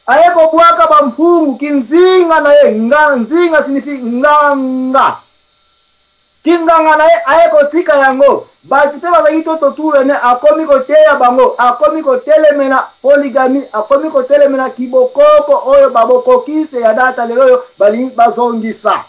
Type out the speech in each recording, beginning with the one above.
Aye kobwaka ba mpungu ki nzinga na ye nga, nzinga sinifi nganga ki nganga na ye aye kotika yango bato mpe bazalaki to totura ne akomi koteya bango akomi kotelemela poligami akomi kotelemela kibokoko oyo babokokise ya data lelo oyo balingi bazongisa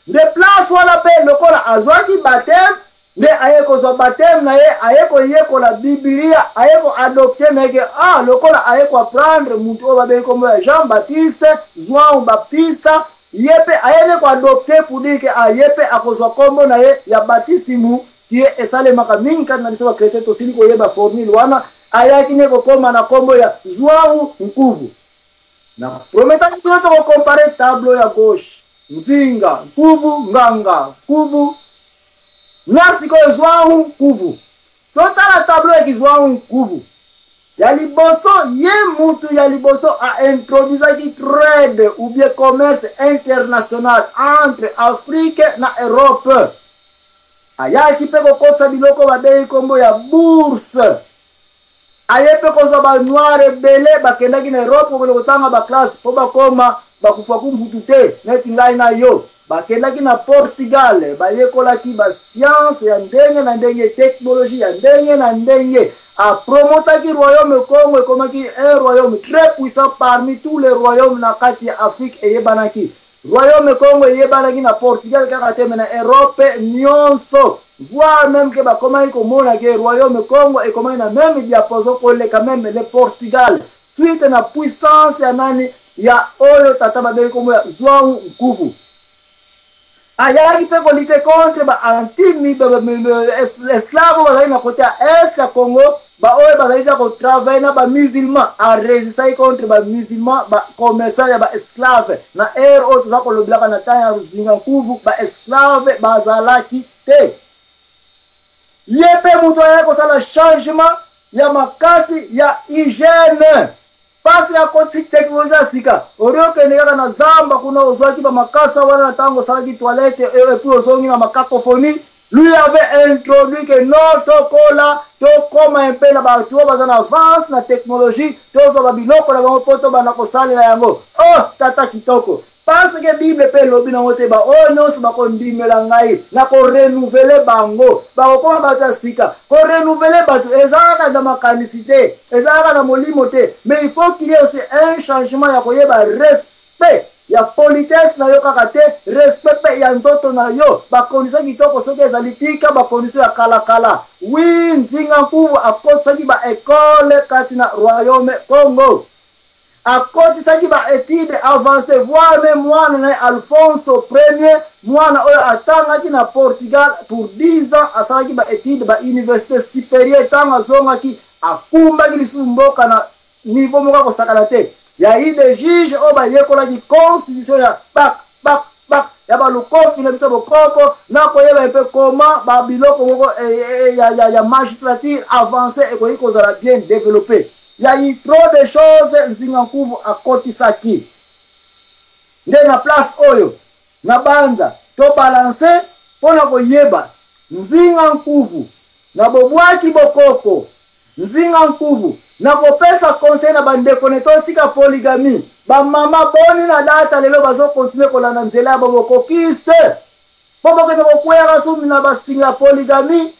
nde place wana mpe lokola azwaki bateme Nde aye kozwa bapteme na ye, aye koyekola Biblia, aye ko adopter na ye ke, ah, lokola aye ko apprendre mutu oyo babengi kombo ya Jean Baptiste, Zuão Baptista, ye pe aye nde ko adopter pour dire ke, ah, ye pe akozwa kombo na ye ya batisimu, qui est esalemaka mingi kati na biso ba chretiens, tosili koyeba formule wana, ayaki nde kokoma na kombo ya Zuão Nkuvu. Na prometaki bino toko comparer tableau ya gauche, Nzinga, Nkuvu, Nganga, Nkuvu, Na sikoyo Zhuang Nkuvu. Totala tableau eki Zhuang Nkuvu. Ya liboso, ye mutu ya liboso a introduisaki trade ou bien commerce international entre Afrique na Europe. Ayaki pe kokotisa biloko babengi kombo ya bourse. aye mpe kozwa ba noir ebele bakendaki na europe kokende kotanga baklasse mpo bakoma bakufaku mputu te neti ngai na yo bakendaki na portugal bayekolaki basianse ya ndenge na ndenge teknologie ya ndenge na ndenge apromotaki royaume congo ekomaki un royaume très puissant parmi tous les royaumes na kati ya afrique eyebanaki Royaume Kongo eyebanaki na Portugal kaka te mais na Europe nionso voire meme ke bakomaki komona ke Royaume Kongo ekomaki na meme diapason koleka meme le Portugal suite na puissance ya nani ya oyo tata babengi kombo ya Zwangu Nkuvu ayaki mpe kolite contre ba anti esclave bazalaki na kote ya est ya Congo Ba oyo bazali ja ko travailler na ba musulmans a resistaki contre ba musulmans ba commerçants ya ba esclaves na heure oyo toza kolobelaka na temps ya Ruzinga Nkuvu ba esclaves bazalaki te ye mpe moto ayaki kosala changement ya makasi ya hygiène Pasi ya ko ti technologie ya sika ori okende kaka na zamba kuna ozwaki ba makasa wana na tango osalaki toilette et puis ozongi na ma cacophonie lui avait introduit que non tokola tokoma un peu na bato oyo baza na avance na technologie tozwa ba biloko na bango mpo tobanda kosalela yango oh tata kitoko Parce que bible pe elobi nango te ba oyo nionso bako ndimela ngai na ko renouvele bango bako koma batu ya sika ko renouvele batu eza kaka na makanisi te eza kaka na molimo te mais il faut qu'il y ait aussi un changement ya koyeba respect ya politesse na yo kaka te respect pe ya nzoto na yo bakondisio kitoko soki ezali tika bakondisio ya kalakala wi nzinga nkuvu akotisaki baekole kati na royaume congo akotisaki ba etudes avancees voire meme mwana na ye Alfonso Ier, mwana oyo atangaki na Portugal pour 10 ans, asalaki ba etudes ba universite superieure, ntango azongaki akumbaki lisusu mboka na niveau moko ya kosakana te. Ya i de juge oyo bayekolaki constitution ya bak bak bak ya balukofi na biso bokoko na koyeba mpe koma ba biloko moko e, e, e, ya, ya, ya magistrature avance ekoki kozala bien developpe Ya y trop de choses Nzinga Nkuvu akotisaki. Nde na place oyo na banza to balance mpo na koyeba Nzinga Nkuvu na bobwaki bokoko. Nzinga Nkuvu na kopesa conseil na bandeko ne totika polygamie. Ba mama boni na data lelo bazo continuer kolanda nzela ya bobokokiste mpo bokende kokweyaka sumbi na basinga ya polygamie.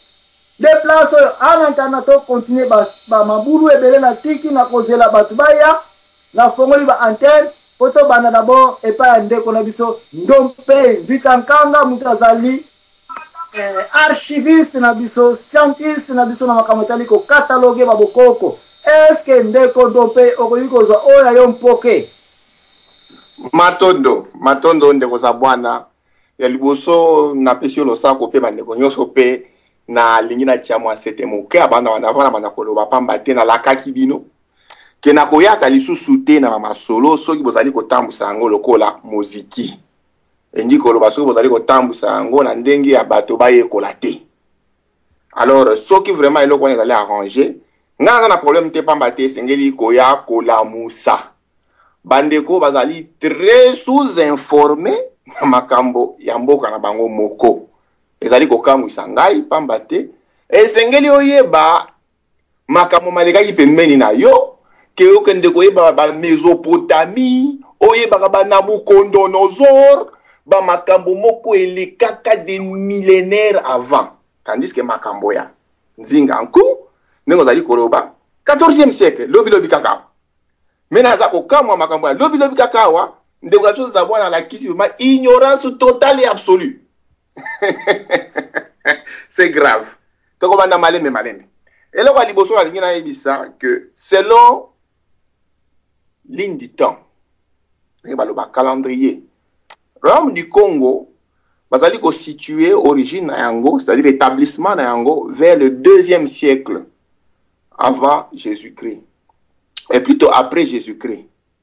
De place oyo ana nkanga to continue ba, ba mabulu ebele na tiki na kozela bato baya na fongoli ba antenne po tobanda d'abord epai ya ndeko na biso ndompe vita nkanga moto azali eh, archiviste na biso scientiste na biso na makambo etali kokataloge babokoko eske ndeko ndompe okoki kozwa oyo ya yo mpoke matondo matondo ndeko zabwana Ya liboso napesi yo losako mpe bandeko nyonso mpe nalingi natya mwa sete moke abanda banda mpona banda koloba mpamba te nalakaki bino ke nakoyaka lisusu te na bamasolo soki bozali kotambwisa yango lokola moziki elingi koloba soki bozali kotambwisa yango na ndenge ya bato bayekola te alors soki vraiment eloko wana ezali arrange ngai naza na problème te pamba te esengeli koya kolamusa bandeko bazali très sous informe na makambo ya mboka na bango moko ezali kokamwisa ngai pamba te esengeli oyeba makambo malekaki pembeni na yo ke okende koyeba bamesopotamie oyebaka banabukondonosor bamakambo moko elekaka de millénaire avant tandis ke makambo ya nzinga nku ndenge ozali koloba 14e siècle lobilobi kaka me naza kokamwa makambo ya lobilobi kaka awa ndeko ya coza mwana alakisi vrema ignorance totale et absolue c'est grave tokobanda malembe malembe eloko ya liboso nalingi nayebisa que selon ligne du temps ndenge baloba calendrier royaume du congo bazali kositue origine na yango c'est-à-dire établissement na yango vers le deuxième siècle avant jésus-christ et plutôt après jésus-christ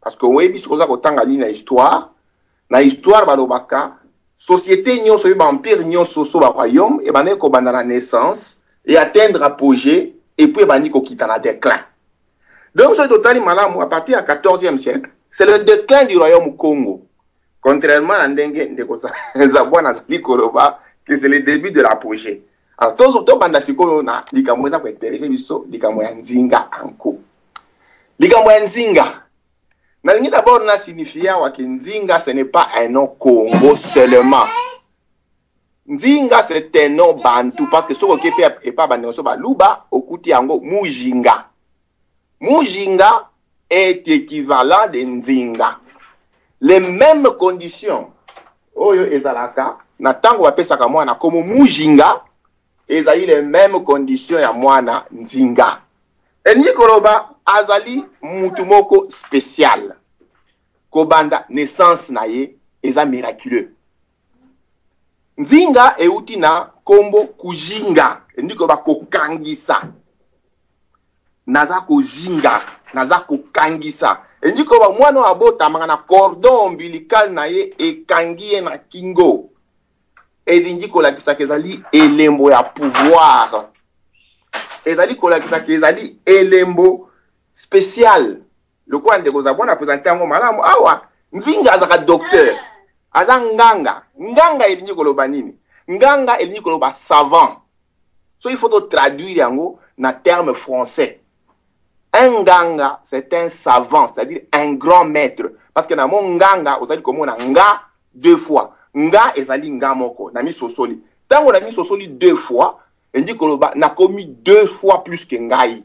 Parce que oyebi soki oza kotanga nini na histoire, na histoire balobaka société nyonso mpe baempire nyonso so baroyaume ebandaki kobanda na naissance e atteindre apogée epuis ebandi kokita na déclin. Donc soki totali malamu à partir ya 14e siècle, c'est le déclin du royaume Congo. Contrairement na ndenge ndeko Zabwana azali koloba que c'est le début de l'apogée. Alors, tozo tobanda sikoyo na likambo eza kointerese biso likambo ya nzinga anko likambo ya nzinga nalingi d'abord na signifie awa ke nzinga ce n'est pas un nom congo seulement nzinga c'est un nom bantu parce que soki oke mpe epa bandeko so baluba okuti yango mujinga Mujinga est equivalent de nzinga. Les memes conditions oyo ezalaka na tango bapesaka mwana komo mujinga ezali les memes conditions ya mwana nzinga. Elingi koloba azali mutu moko special kobanda naissance na ye eza miraculeux. Nzinga euti na nkombo kujinga, elingi koloba kokangisa. Naza kojinga, naza kokangisa, elingi koloba mwana oyo abotamaka na cordon ombilical na ye ekangi ye na kingo, elingi kolakisaka ezali elembo ya pouvoir, ezali kolakisaka ezali elembo special. lokola ndeko zabwana apresente yango malamu awa nzinga azaka docteur ah. aza nganga nganga elingi koloba nini nganga elingi koloba savant so il faut totraduire yango na terme français un nganga c'est un savant c'est-à-dire un grand maître parce que na mo nganga ozali komona nga deux fois nga ezali nga moko na misosoli ntango na misosoli deux fois elingi koloba nakomi deux fois plus ke ngai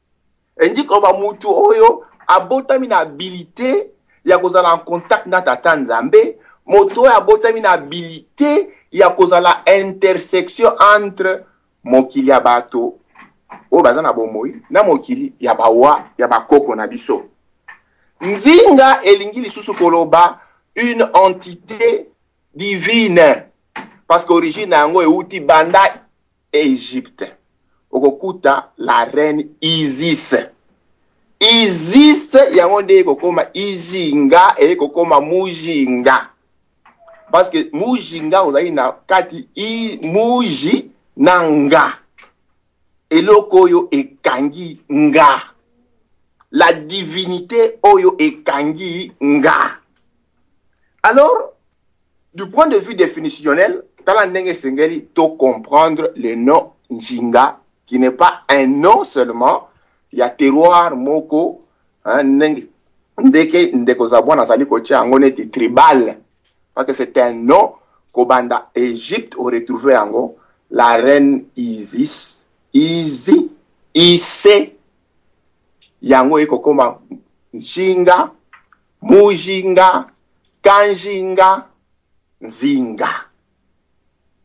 elingi koloba motu oyo abotami na abilite ya kozala en contact na tata nzambe moto oyo abotami na abilite ya kozala intersection entre mokili ya bato oyo baza na bomoi na mokili ya bawa ya bakoko na biso nzinga elingi lisusu koloba une entité divine parce que origine na yango euti banda Egypte okokuta la reine Isis. Isis yango nde ekokoma Ijinga ekokoma Mujinga. Parce que Mujinga ozali na kati i Muji na nga. Eloko oyo ekangi nga. La divinité oyo ekangi nga. Alors, du point de vue définitionnel, tala ndenge esengeli to comprendre le nom Njinga qui n'est pas un nom seulement ya terroir moko hein, ndenge ndeke ndeko Zabwana azali kotya yango neti tribal parce que c'est un nom kobanda Égypte oretrouve yango la reine Isis Izi Ise yango ekokoma Njinga Mujinga, Kanjinga, Nzinga.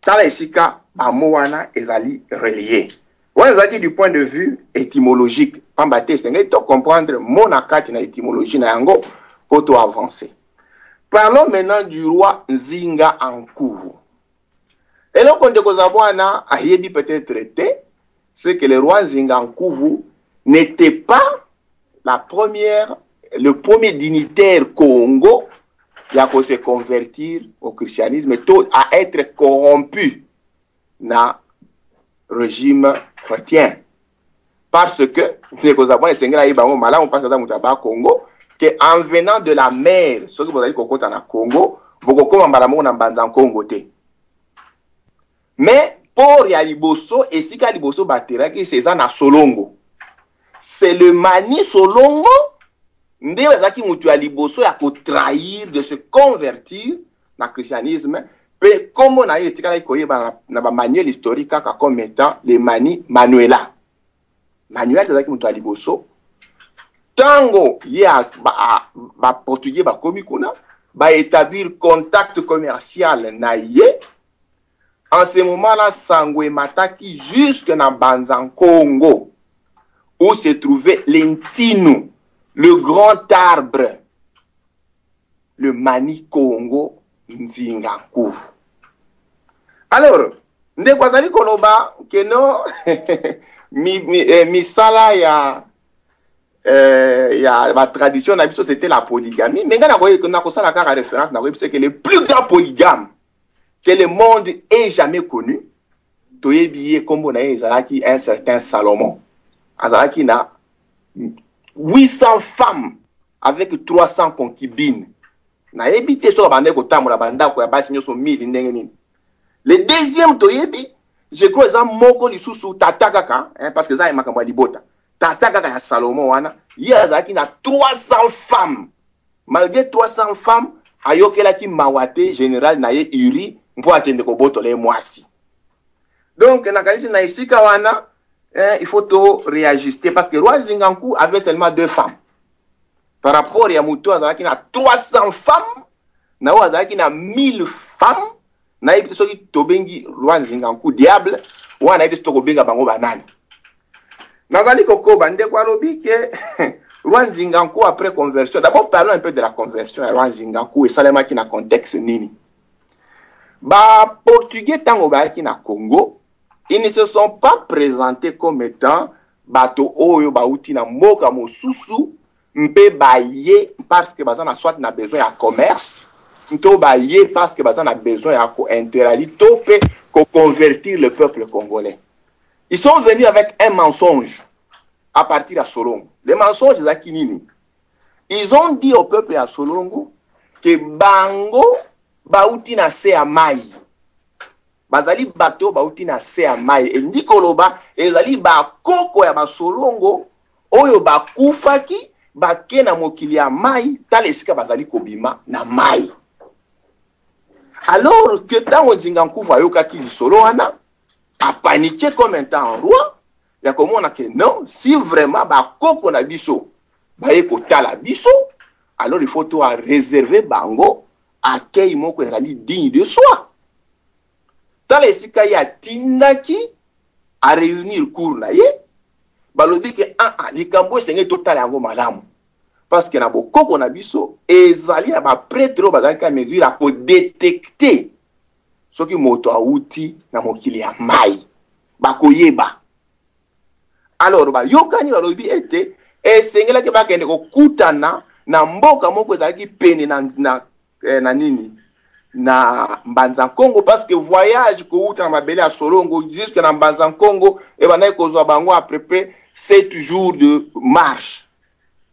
Tala esika ba mots wana ezali relier. Wana ezalaki du point de vue étymologique. Pamba te esengeli to comprendre mot na kati na étymologie na yango mpo to avancer. Parlons maintenant du roi Nzinga Ankuru. Eloko ndeko Zabwana ayebi peut-être te, c'est que le roi Nzinga Nkuvu n'était pas la première, le premier dignitaire Congo ya ko se convertir au christianisme to à être corrompu na regime chrétien. parce que ndeko zabon esengeli ayeba yango malamu parce aza moto ya bakongo ke en venant de la mer soki bozali kokota na congo bokokoma mbala moko na mbanza nkongo te mais port ya liboso esika liboso bateraki se eza na solongo c'est le mani solongo nde azalaki moto ya liboso ya kotrahir de se convertir na christianisme mpe nkombo na ye etikalaki koyebana na bamanuel historique kaka comme étant le mani manuela manuel azalaki moto ya liboso ntango ye baportugais ba bakomi kuna baétablir contact commercial na ye en ce moment là sango emataki jusque na banza nkongo où se trouvait lentino le grand arbre le mani kongo nzinga nkuru alors ndeko azali koloba keno mi, mi, eh, misala ya eh, ya batradition na biso c'était la polygamie me ngai nakosala kaka référence nakoyebisa ke le plus grand polygame que le monde est jamais connu toyebi ye nkombo na ye ezalaki un certain salomon azalaki na 800 femmes avec 300 concubines nayebi te soki abandaki kotambola bandako ya basi nyonso 1000 ndenge nini le deuxième toyebi je crois eza moko lisusu tata kaka hein, parce que eza ya makambo ya libota tata kaka ya salomon wana ye azalaki na 300 femmes malgré 300 femmes ayokelaki mawa te général na ye uri mpo akende kobotola ye mwasi Donc, nakanisi na esika wana, eh, il faut to réajuster parce que Roi Zinganku avait seulement deux femmes. Par rapport ya moto azalaki na 300 femmes, na oyo azalaki na 1000 femmes, nayebi te soki tobengi Roi Zinganku diable, wana nayebi te soki tokobenga bango banani. Nazali kokoba ndeko alobi ke Roi Zinganku après conversion. D'abord parlons un peu de la conversion ya Roi Zinganku esalemaki na contexte nini? Ba portugais tango bayaki na Congo, ils ne se sont pas presentés comme étant bato oyo bauti na mboka mosusu mpe baye parce que baza na soit na besoin ya commerce nto baye parce que baza na besoin ya kointeragir to mpe koconvertir le peuple congolais ils sont venus avec un mensonge à partir ya solongo le mensonge ezalaki nini Ils ont dit au peuple ya Solongo que bango bauti na se ya mai bazali bato bauti na se ya mai elingi koloba ezali bakoko ya basolongo oyo bakufaki bake na mokili ya mai tala esika bazali kobima na mai alors que ntango nzinga nkufu ayokaki lisolo wana apanike comme un temps en roi ya komona ke non si vraiment bakoko na biso baye kotala biso alors il faut to a réserver bango accueil moko ezali digne de soi tala esika ye atindaki a réunir cour na ye balobi ke aa ah, ah, likambo esengeli totala yango malamu parce que na bokoko na biso ezali na bapretre oyo bazalaki amesure ya kodetecte soki moto awuti na mokili ya mai bakoyeba alors bayokani balobi ete esengelaki bakende kokutana na mboka moko ezalaki pene na, na, eh, na nini na mbanza nkongo parce que voyage kowuta na mabele ya solongo jusque na mbanza nkongo ebandaki kozwa bango à peu près 7 jours de marche